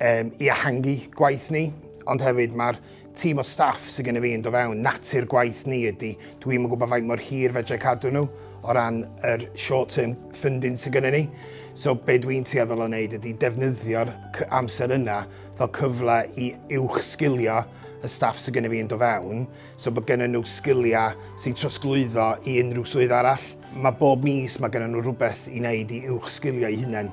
um, i ehangu gwaith ni, ond hefyd mae'r tîm o staff sydd gen i fi yn do fewn, natur gwaith ni ydy, dwi'n yn gwybod faint mor hir fedrai cadw nhw o ran yr short term funding sydd gen i ni. So be dwi'n tueddol o wneud ydy defnyddio'r amser yna fel cyfle i uwch sgilio y staff sydd gen i fi yn do fewn, so bod gen nhw sgiliau sy'n trosglwyddo i unrhyw swydd arall. Mae bob mis mae gen nhw rhywbeth i wneud i uwch sgilio i hunain.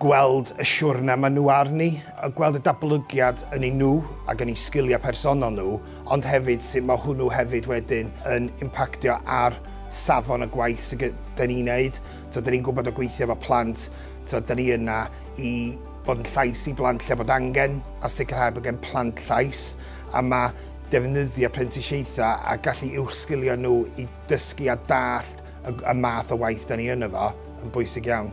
gweld y siwrne maen nhw arni, a gweld y datblygiad yn eu nhw ac yn eu sgiliau personol nhw, ond hefyd sut mae hwnnw hefyd wedyn yn impactio ar safon y gwaith sydd gyda ni'n neud. Tibod, da ni'n gwybod o gweithio efo plant, tibod, da ni yna i bod yn llais i blant lle bod angen a sicrhau bod gen plant llais a mae defnyddio prentisiaethau a gallu uwch sgilio nhw i dysgu a dallt y, y math o waith da ni yn efo yn bwysig iawn.